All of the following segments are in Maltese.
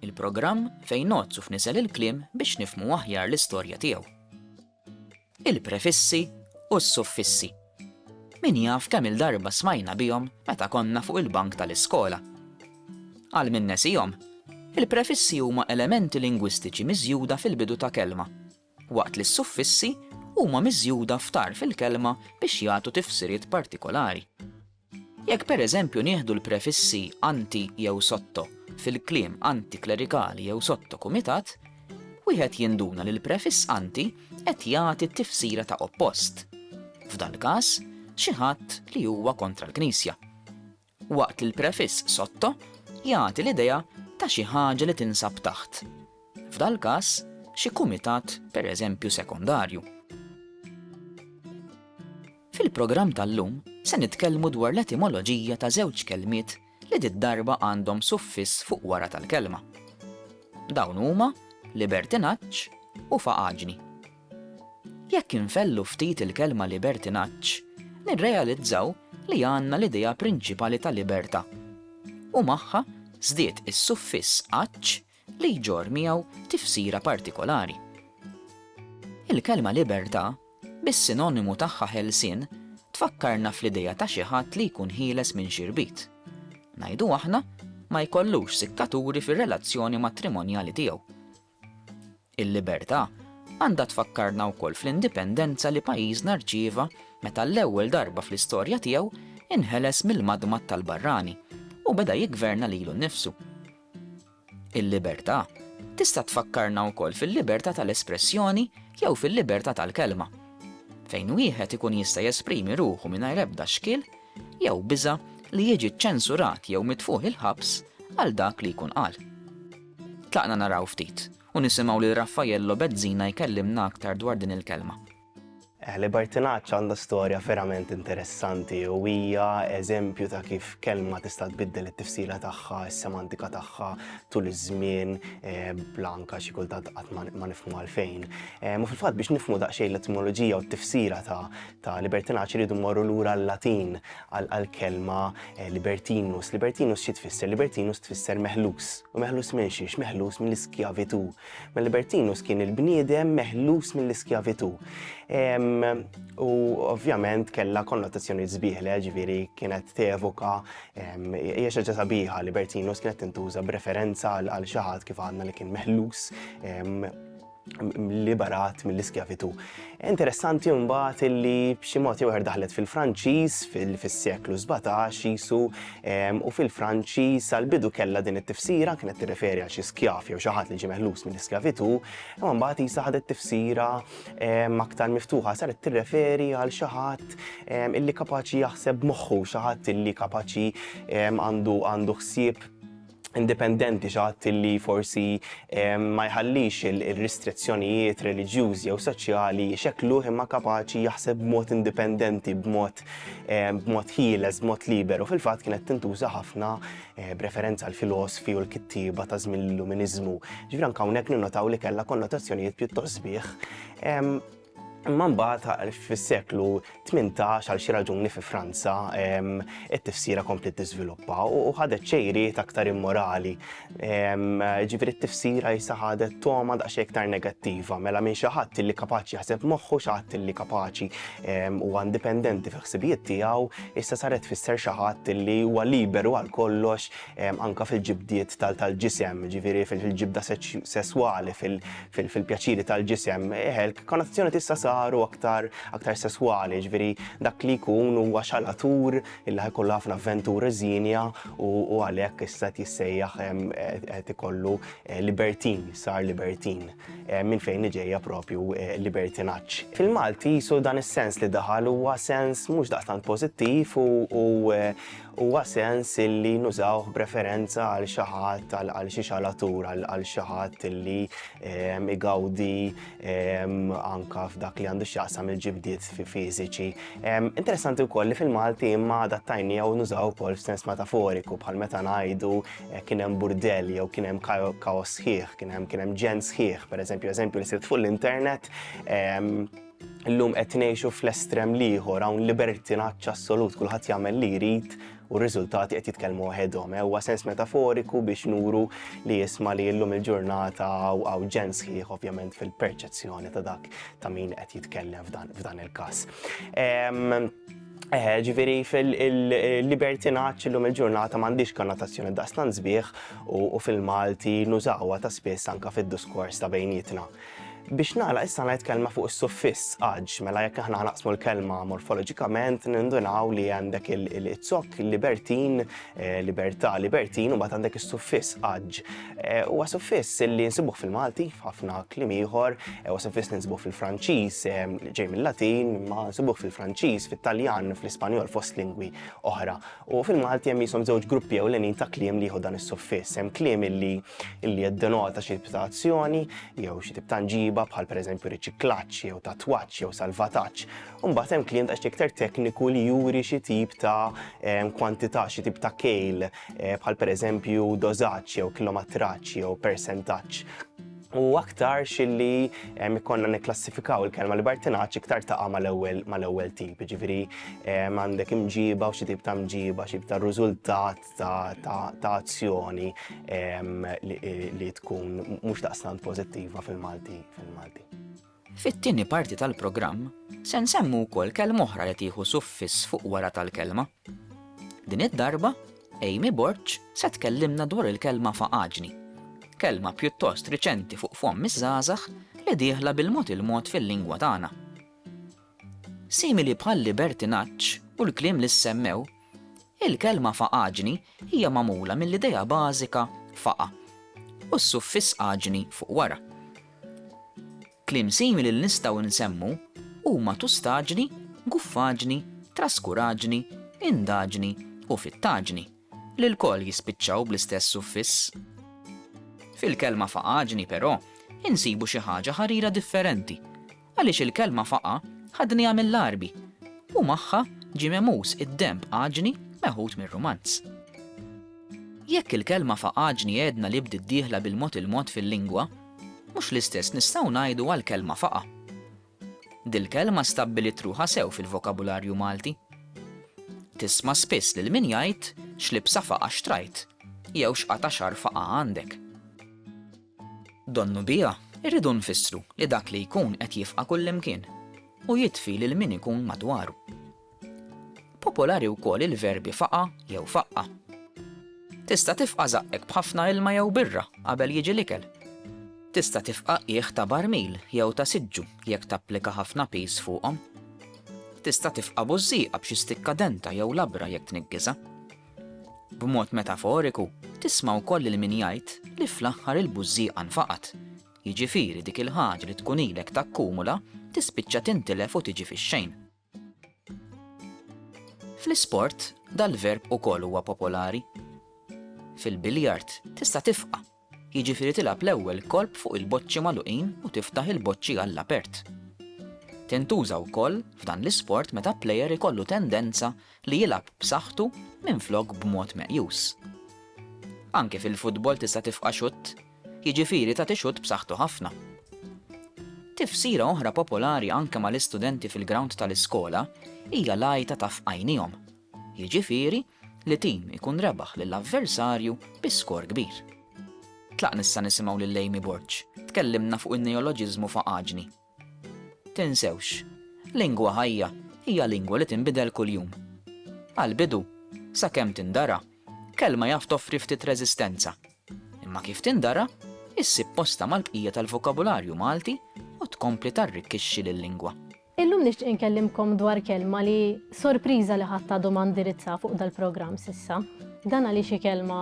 Il-programm fejn ngħodd u fnisel il-kliem biex nifhmu aħjar l-istorja tiegħu. Il-prefissi u s-suffissi. Min jaf kemm-il darba smajna bihom meta konna fuq il-bank tal-iskola. Għal min nesihom, il-prefissi huma elementi lingwistiċi miżjuda fil-bidu ta' kelma waqt li s-suffissi huma miżjuda f'tarf il-kelma biex jagħtu tifsiriet partikolari. Jekk pereżempju nieħdu l-prefissi anti jew sotto fil-kliem antiklerikali jew sotto kumitat, wieħed jinduna li l-prefiss anti qed jagħti t-tifsira ta' oppost, f'dal-każ, xi ħadd li huwa kontra l-Knisja. waqt li l-prefiss sotto jagħti l-idea ta' xi ħaġa li tinsab taħt, f'dal-każ, xi kumitat, pereżempju, sekondarju. Fil-programm tal-lum se nitkellmu dwar l-etimoloġija ta' żewġ kelmiet li did-darba għandhom suffiss fuq wara tal-kelma. Dawn huma libertinaġġ u faqaġni. Jekk infegħlu ftit il-kelma libertinaġġ, nirrealizzaw li għandna l-idea prinċipali ta' libertà, u magħha żdied is-suffiss aġġ li jġorr miegħu tifsira partikolari. Il-kelma libertà, bis-sinonimu tagħha ħelsien, tfakkarna fl-idea ta' xi ħadd li jkun ħieles minn xi rbit. Ngħidu aħna, ma jkollux sikkaturi fir-relazzjoni matrimonjali tiegħu, Il-libertà għandha tfakkarna wkoll fl-indipendenza li pajjiżna rċieva meta għall-ewwel darba fl-istorja tiegħu inħeles mill-madmad tal-barrani u beda jiggverna lilu nnifsu. Il-libertà tista' tfakkarna wkoll fil-libertà tal-espressjoni jew fil-libertà tal-kelma, fejn wieħed ikun jista' jesprimi ruħu mingħajr ebda xkiel jew biża' li jiġi ċċensurat jew mitfugħ il-ħabs għal dak li jkun qal. Tlaqna naraw ftit u nisimgħu lil Raffaello Bezzina jkellimna aktar dwar din il-kelma. Eħli Bartinaċċa għandha storja verament interessanti u hija eżempju ta' kif kelma tista' tbiddel it-tifsira tagħha, is-semantika tagħha tul iż-żmien eh, blanka xi kultant qatt ma nifhmu għalfejn. Eh, ma fil-fatt biex nifhmu daqsxejn l-etimoloġija u t-tifsira ta' ta' libertinaġġ iridu mmorru lura l-Latin għall-kelma eh, libertinus. Libertinus xi tfisser? Libertinus tfisser meħlus. U meħlus minn xiex? Meħlus mill-iskjavitu. Ma libertinus kien il-bniedem meħlus mill-iskjavitu. U ovvjament kella konnotazzjoni zbiħle, ġviri kienet tevoka, hija xi ġata biħa libertinus kienet tintuża b'referenza għal xi ħadd kif għandna li kien meħlus liberat mill-iskjavitù. Interessanti mbagħad illi b'xi mod jew daħlet fil-Franċiż fis-seklu 17 jisu ehm, u fil-Franċiż sal-bidu kellha din it-tifsira kienet tirreferi għal xi skjav jew xi ħadd li ġie meħlus mill-iskjavitù, imma mbagħad jisa ħadet tifsira ehm, aktar miftuħa saret tirreferi għal xi ħadd ehm, illi kapaċi jaħseb moħħu, xi ħadd illi kapaċi għandu għandu ħsieb indipendenti, xi ħadd li forsi ma jħallix ir-ristrizzjonijiet reliġjużi jew soċjali jxekkluh imma kapaċi jaħseb b'mod indipendenti, b'mod b'mod ħieles, b'mod liberu. Fil-fatt kienet tintuża ħafna eh, b'referenza għal filosfi u l-kittieba ta' żmien l-Illuminiżmu. Ġifieri anke hawnhekk ninnotaw li kellha konnotazzjonijiet pjuttost sbieħ. Imma mbagħad fis-seklu 18 għal xi raġuni fi Franza it-tifsira komplet tiżviluppa u ħadet ċejriet aktar immorali. Ġifieri t-tifsira jisa ħadet toma daqsxejn iktar negattiva, mela minn xi ħadd li kapaċi jaħseb moħħu xi ħadd li kapaċi u indipendenti fi ħsibijiet tiegħu, issa saret fisser xi ħadd li huwa liberu għal kollox anka fil-ġibdiet tal-ġisem, ġifiri fil-ġibda sesswali, fil-pjaċiri tal-ġisem, eħelk, konnotazzjoni tista' saru aktar aktar sesswali, ġifiri dak li jkun huwa xalatur illa ħajkollu ħafna avventur zinja u għalhekk issa tissejjaħ qed ikollu eh, libertin, sar libertin, eh, minn fejn iġejja propju eh, libertinaġġ. Fil-Malti jisu dan is-sens li daħal huwa sens mhux daqstant pożittiv u huwa sens illi nużawh b'referenza għal xi ħadd għal xi xalatur għal xi ħadd illi ehm, igawdi ehm, anka f'dak li għandu x'jaqsam il-ġibdiet fiżiċi. Ehm, interessanti wkoll li fil-Malti imma adattajni jew nużaw ukoll f'sens metaforiku bħal meta ngħidu eh, kien hemm burdell jew kien hemm kaos sħiħ, kien hemm kien hemm ġen sħiħ, pereżempju eżempju li sirt fuq l-internet Illum qed ngħixu fl-estrem l-ieħor hawn libertinaġġ assolut, kulħadd jagħmel li jrid u r-riżultati qed jitkellmu waħedhom. Eh, huwa sens metaforiku biex nuru li jisma li llum il-ġurnata għaw ġens sħiħ ovvjament fil-perċezzjoni ta' dak ta' min qed jitkellem f'dan il-każ. Eh, ġifiri fil-libertinaċ l-lum il-ġurnata mandiġ konnotazzjoni daqstan zbieħ u fil-Malti nużawa ta' spess anka fil-diskors ta' bejnietna. Biex nagħlaq issa ngħid kelma fuq is-suffiss aġ, mela jekk aħna naqsmu l-kelma morfoloġikament nindunaw li għandek il-zokk libertin, eh, libertà, libertin u mbagħad għandek is-suffiss aġ. Eh, huwa suffiss li nsibuh fil-Malti f'ħafna kliem ieħor, eh, huwa suffiss li nsibuh fil-Franċiż, ġej mill-Latin, ma nsibuh fil-Franċiż, fit-Taljan, fl-Ispanjol fost lingwi oħra. U fil-Malti hemm qishom żewġ gruppi ewlenin ta' kliem li jieħu dan is-suffiss. Hemm kliem illi illi jiddenota xi tip ta' azzjoni jew xi tip ta' nġiba bħal pereżempju riċiklaġġ jew tatwaġġ jew salvataġġ. U mbagħad hemm kliem daqsxejn iktar tekniku li juri xi tip ta' ehm, kwantità, xi tip ta' kejl eh, bħal pereżempju dożaġġ jew kilometraġġ jew persentaġġ. u aktarx illi ikkonna nikklassifikaw il-kelma libertinaċ iktar taqa' mal-ewwel mal-ewwel tip, ġifieri għandek imġiba u xi tip ta' mġiba, xi tip ta' riżultat ta' azzjoni li tkun mhux daqstant pożittiva fil-Malti fil-Malti. Fit-tieni parti tal-programm se nsemmu wkoll kelma oħra li tieħu suffiss fuq wara tal-kelma. Din id-darba, Amy Borg se tkellimna dwar il-kelma faqaġni, kelma pjuttost riċenti fuq fomm iż-żgħażagħ li dieħla bil-mod il-mod fil-lingwa tagħna. Simili bħal libertinaġġ u l-kliem li ssemmew, Il-kelma faqaġni hija magħmula mill-idea bażika faqa' u s-suffiss aġni fuq wara. Kliem simili li nistgħu nsemmu huma tustaġni, guffaġni, traskuraġni, indaġni u fittaġni, li lkoll jispiċċaw bl-istess suffiss. Fil-kelma faqaġni, però, insibu xi ħaġa ħarira differenti, Għaliex il-kelma faqa' ħadniha mill-Għarbi u magħha ġie memuż id-denb għaġni meħud mir-Rumanz. Jekk il-kelma faqaġni għedna li bdiet dieħla bil-mod il-mod fil-lingwa, mhux l-istess nistgħu ngħidu għall-kelma faqa'. Dil-kelma stabbiliet ruħha sew fil-vokabularju Malti. Tisma' spiss lil min jgħid x'libsa faqa' xtrajt jew x'qata' xagħar faqa' għandek. Donnu biha rridu nfissru li dak li jkun qed jifqa' kullimkien u jitfi lil min ikun madwaru. Popolari wkoll il-verbi faqa' jew faqqa'. Tista' tifqa' żaqqek b'ħafna ilma jew birra qabel jiġi l-ikel. Tista' tifqa' qiegħ ta' barmil jew ta' siġġu jekk tapplika ħafna piż fuqhom. Tista' tifqa' bużżieqa b'xi stikkadenta jew labra jekk tniggiżha. B'mod metaforiku, tisma' wkoll lil min jgħid li fl-aħħar il-bużżieqa nfaqgħet, jiġifieri dik il-ħaġa li tkun ilek takkumula tispiċċa tintilef u tiġi fix-xejn. Fl-isport, dal-verb ukoll huwa popolari. Fil-biljard, tista' tifqa', jiġifieri tilgħab l-ewwel kolp fuq il-boċċi magħluqin u tiftaħ il-boċċi għall-apert. Tintuża wkoll f'dan l-isport meta plejer ikollu tendenza li jilgħab b'saħħtu minflok b'mod meqjus. Anke fil-futbol tista' tifqa' xutt, jiġifieri tagħti xutt b'saħħtu ħafna. Tifsira oħra popolari anke mal-istudenti fil-grawnd tal-iskola hija l-għajta ta' f'għajnihom, jiġifieri li tim ikun rebaħ lil avversarju bi skor kbir. Tlaqn issa nisimgħu lil Amy Borg, tkellimna fuq in-neoloġiżmu faqaġni. Tinsewx, lingwa ħajja hija lingwa li tinbidel kuljum. Għall-bidu, sakemm tindara, kelma jaf toffri ftit reżistenza. Imma kif tindara, issib postha mal-bqija tal-vokabularju Malti u tkompli tarrikkixxi lil-lingwa. Illum nixtieq inkellimkom dwar kelma li sorpriża li ħadd għadu ma ndirizza fuq dal-programm s'issa. Dan għaliex hi kelma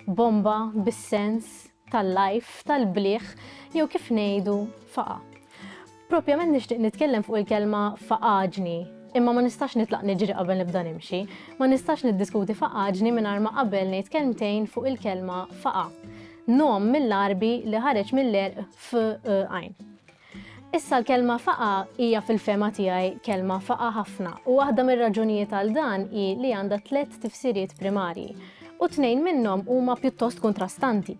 bomba bis-sens tal-lajf, tal-bliħ, jew kif ngħidu faqa. Propjament nixtieq nitkellem fuq il-kelma faqaġni, imma ma nistax nitlaq niġri qabel nibda nimxi, ma nistax niddiskuti faqaġni mingħajr ma qabel ngħid kelmtejn fuq il-kelma faqa. Nom mill-Għarbi li ħareġ mill-għerq f għajn. Issa l-kelma faqgħa hija fil-fehma tiegħi kelma faqgħa ħafna u waħda mir-raġunijiet għal dan hi li għandha tliet tifsiriet primarji u tnejn minnhom huma pjuttost kontrastanti.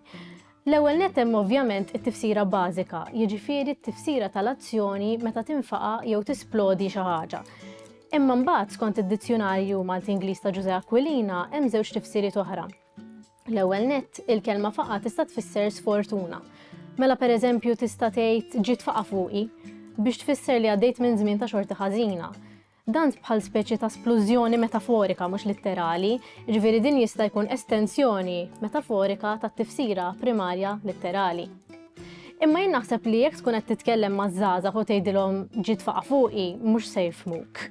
L-ewwel nett hemm ovvjament it-tifsira bażika, jiġifieri t-tifsira tal-azzjoni meta tinfaqa' jew tisplodi xi ħaġa. Imma mbagħad skont id-Dizzjunarju Malti-Ingliż ta' Ġużè Aquilina hemm żewġ tifsiriet oħra. L-ewwel nett, il-kelma faqa tista' tfisser sfortuna. Mela pereżempju tista' tgħid ġiet faqa fuqi biex tfisser li għaddejt minn żmien ta' xorta ħażina. Dan bħal speċi ta' splużjoni metaforika mhux litterali, ġifieri din jista' jkun estensjoni metaforika tat-tifsira primarja litterali. Imma jien naħseb li jekk tkun qed titkellem maż-żgħażagħ u tgħidilhom ġiet faqa fuqi mhux se jifmuk.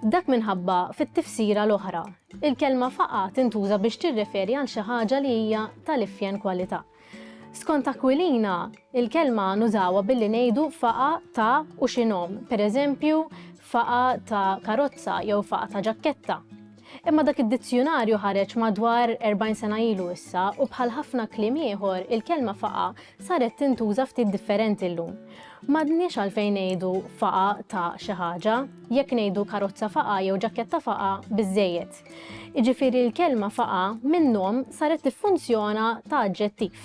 Dak minħabba fit-tifsira l-oħra, Il-kelma faqgħa tintuża biex tirreferi għal xi ħaġa li hija tal-ifjen kwalità. Skont Aquilina, il-kelma nużawha billi ngħidu faqgħa ta' u xi nom, pereżempju faqgħa ta' karozza jew faqgħa ta' ġakketta. Imma dak id-dizzjunarju ħareġ madwar 40 sena ilu issa u bħal ħafna kliem ieħor il-kelma faqgħa saret tintuża ftit differenti llum. M'għadniex għalfejn ngħidu faqgħa ta' xi ħaġa. jekk ngħidu karozza faqa' jew ġakketta faqa' biżżejjed. Jiġifieri l-kelma faqa' minnhom saret tiffunzjona ta' aġġettiv.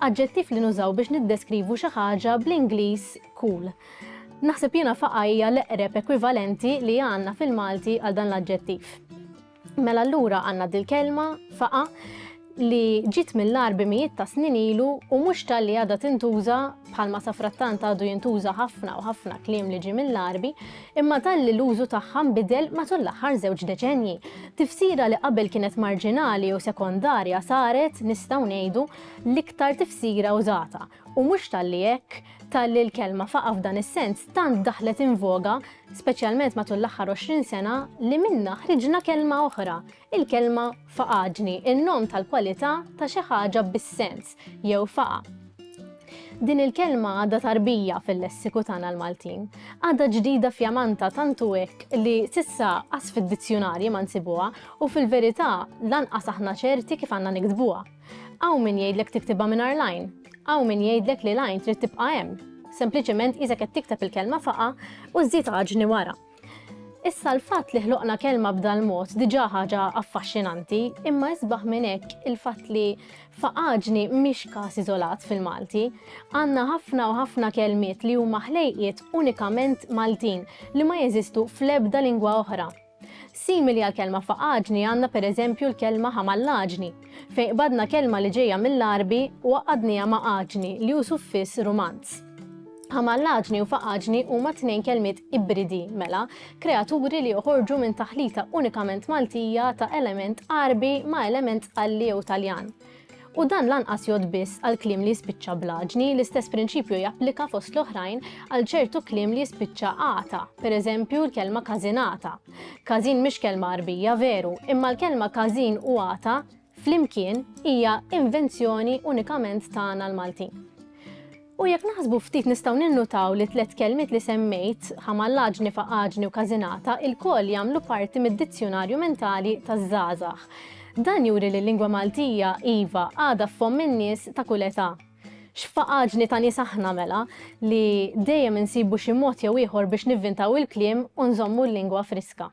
Aġġettiv li nużaw biex niddeskrivu xi ħaġa bl-Ingliż cool. Naħseb jiena faqa' hija l-eqreb ekwivalenti li għandna fil-Malti għal dan l-aġġettiv. Mela allura għandna dil-kelma faqa li ġiet mill-ar bimijiet ta' snin ilu u mhux tal-li għadha tintuża bħalma sa frattant għadu jintuża ħafna u ħafna kliem li ġi mill-arbi, imma tal-li l-użu tagħha nbidel matul l-aħħar żewġ deċenji. Tifsira li qabel kienet marġinali u sekondarja saret, nistgħu ngħidu, l-iktar tifsira użata. U mhux talli hekk, talli l-kelma faqgħa f'dan is-sens tant daħlet in voga, speċjalment matul l-aħħar 20 sena, li minnha ħriġna kelma oħra, il-kelma faqagni, in-nom tal-kwalità ta' xi ħaġa bis-sens, jew faqa'. Din il-kelma għadha tarbija fil-lessiku tagħna l-Maltin. Għadha ġdida fjamanta tantu hekk li sissa qas fid-dizzjunarji ma nsibuha u fil-verità lanqas aħna ċerti kif għandna niktbuha. Hawn min jgħidlek tiktibha mingħajr l-għajn. Hawn min jgħidlek li l-għajn trid tibqa' hemm. Sempliċement qisek qed tikteb il-kelma faqa' u żżid għaġni wara. Issa l-fatt li ħloqna kelma b'dal mod diġà ħaġa affaxxinanti, imma isbaħ minn hekk il-fatt li faqaġni mhix każ iżolat fil-Malti. Għandna ħafna u ħafna kelmiet li huma ħlejqiet unikament Maltin li ma jeżistu fl-ebda lingwa oħra. Simili għall-kelma faqaġni għandna pereżempju l-kelma ħamallaġni, fejn qbadna kelma li ġejja mill-Għarbi u għaqqadniha ma' aġni li hu suffiss Rumanz. Ħamallaġni u faqaġni huma tnejn kelmiet ibridi, mela, kreaturi li joħorġu minn taħlita unikament Maltija ta' element Għarbi ma' element Għalli jew Taljan. U dan lanqas jgħodd biss għal kliem li jispiċċa bl-għaġni, l-istess prinċipju japplika fost l-oħrajn għal ċertu kliem li jispiċċa ata, pereżempju l-kelma każinata. Każin mhix kelma Għarbija veru, imma l-kelma każin u ata flimkien hija invenzjoni unikament tagħna l-Maltin. U jekk naħsbu ftit nistgħu ninnutaw li t-tliet kelmiet li semmejt, ħamallaġni, faqaġni u każinata, ilkoll jagħmlu parti mid-dizzjunarju mentali taż-żgħażagħ. Dan juri li l-lingwa Maltija, iva, għadha f'fomm in-nies ta' kull età. X'faqaġni ta' nies aħna, mela, li dejjem insibu xi mod jew ieħor biex nivvintaw il-kliem u nżommu l-lingwa friska.